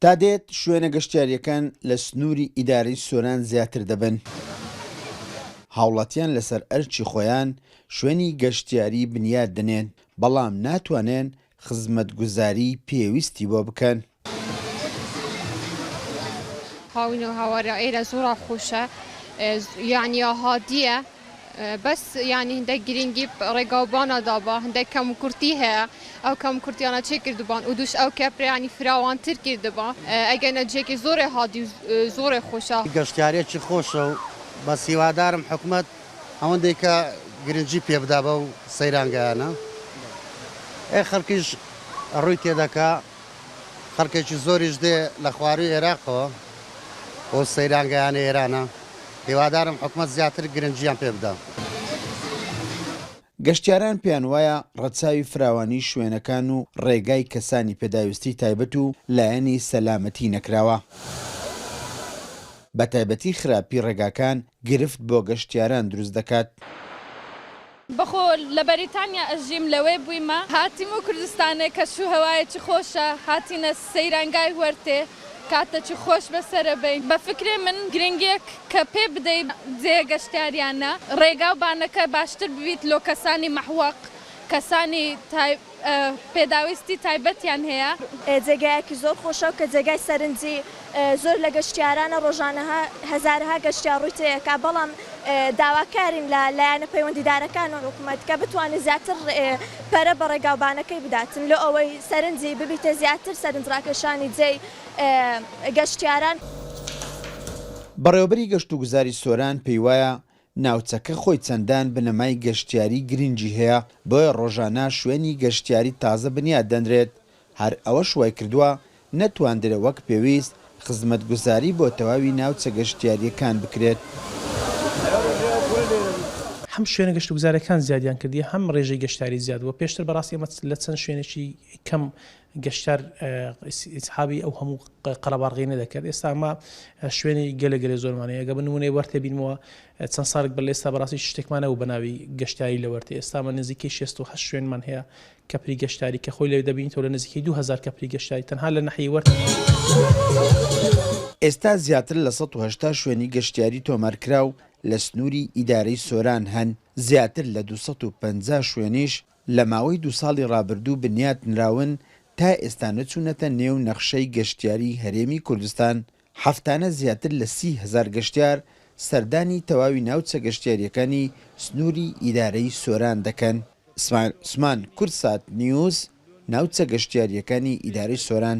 تا دێت شوێنە گەشتیارییەکان لە سنووری ئیدارەی سۆران زیاتر دەبن. هاوڵاتیان لەسەر ئەرکی خۆیان شوێنی گەشتیاری بنیات دەنێن، بەڵام ناتوانێن خزمەتگوزاری پێویستی بۆ بکەن. هاوین و هاوارە ئێرە زوڕا خوشە یانیا هادیە. بەس یانی هندەک گرینگی ڕێگاو بانا دابا هندەک کەم و کورتی هەیە ئەو کەم کورتیانە چێ کردبان ئودوش ئەو کەپرەیانی فراوان تر کردبا ئەگەر نە جێکی زۆرێ هادی و زۆرێ خۆشە. گەشتیاریەکی خۆشە و بەس هیوادارم حکومەت ئەوەندەیکە گرنگی پێ بدا بەو سەیرانگایانە ئێ خەلکیش ڕوی تێدەکا. خەڵکێکی زۆریش دێ لە خواروی ئێراقەوە بۆ سەیرانگەیانە ئێرانە هیوادارم حکومەت زیاتر گرنگیان پێ بدا. گەشتیاران پێیان وایە ڕەچاوی فراوانی شوێنەکان و ڕێگای کەسانی پێداویستی تایبەت و لایەنی سەلامەتی نەکراوە، بەتایبەتی خراپی ڕێگاکان گرفت بۆ گەشتیاران دروست دەکات. بەخۆ لە بەریتانیا ئەژیم لەوێ بویمە هاتیمە کوردستانێ کەش و هەوایەکی خۆشە هاتینە سەیرانگای هوەرتێ کاتەکی خۆش بەسەرە بەین بە فکرێ من گرنگیەک کە پێ بدەی جێە گەشتیاریانە ڕێگاو بانەکە باشتر ببیت لۆ کەسانی مەحوەق کەسانی پێداویستی تایبەتیان هەیە. جێگایەکی زۆر خۆشە کە جێگای سەرنجی زۆر لە گەشتیارانە، ڕۆژانە هەزارەها گەشتیار ڕووی تێیەکا، بەڵام داواکارین لە لایەنە پەیوەندیدارەکان و حکومەت کە بتوانێت زیاتر پەرە بە ڕێگاوبانەکەی بداتن لۆ ئەوەی سەرنجی ببیتە زیاتر سەرنجڕاکێشانی جێی گەشتیاران. بەڕێوەبەری گەشتوگوزاری سۆران پێیوایە، ناوچەکە خۆی چەندان بنەمای گەشتیاری گرنگی هەیە، بۆیە ڕۆژانە شوێنی گەشتیاری تازە بنیات دەنرێت، هەر ئەوەش وایکردووە نەتواندرێ وەک پێویست خزمەتگوزاری بۆ تەواوی ناوچە گەشتیارییەکان بکرێت. هەم شوێنە گەشتوگوزارەکان زیادیان کردیە هەم ڕێژەی گەشتیاری زیاد بووە، پێشتر بەڕاستی ئێمە لە چەند شوێنێکی کەم گەشتیار ئیسحابی ئەو هەموو قەرەباڵغیی نەدەکرد، ئێستا ئەمە شوێنی گەلێ گەلێ زۆرمان هەیە، گەر بە نموونەی وەرتێ بینمەوە چەند ساڵێک بەر لە ئێستا بەڕاستی هیچ شتێکمان نەبوو بە ناوی گەشتیاری لە وەرتێ، ئێستا ئەمە نزیکەی شێست و هەشت شوێنمان هەیە کەپری گەشتیاری کە خۆی لەوێ دەبینیتەوە لە نزیکەی دوو هەزار کەپری گەشتیاری تەنها لە ناحیەی وەرتێ. ئێستا زیاتر لە سەد و هەشتا شوێنی گەشتیاری تۆمارکراو لە سنووری ئیدارەی سۆران هەن، زیاتر لە دوو سەد و پەنجا شوێنیش لە ماوەی دوو ساڵی ڕابردوو بنیات نراون، تا ئێستا نەچوونەتە نێو نەخشەی گەشتیاریی هەرێمی کوردستان، هەفتانە زیاتر لە سی هەزار گەشتیار سەردانی تەواوی ناوچە گەشتیارییەکانی سنووری ئیدارەی سۆران دەکەن. سمایل عوسمان، کوردسات نیوز، ناوچە گەشتیارییەکانی ئیدارەی سۆران.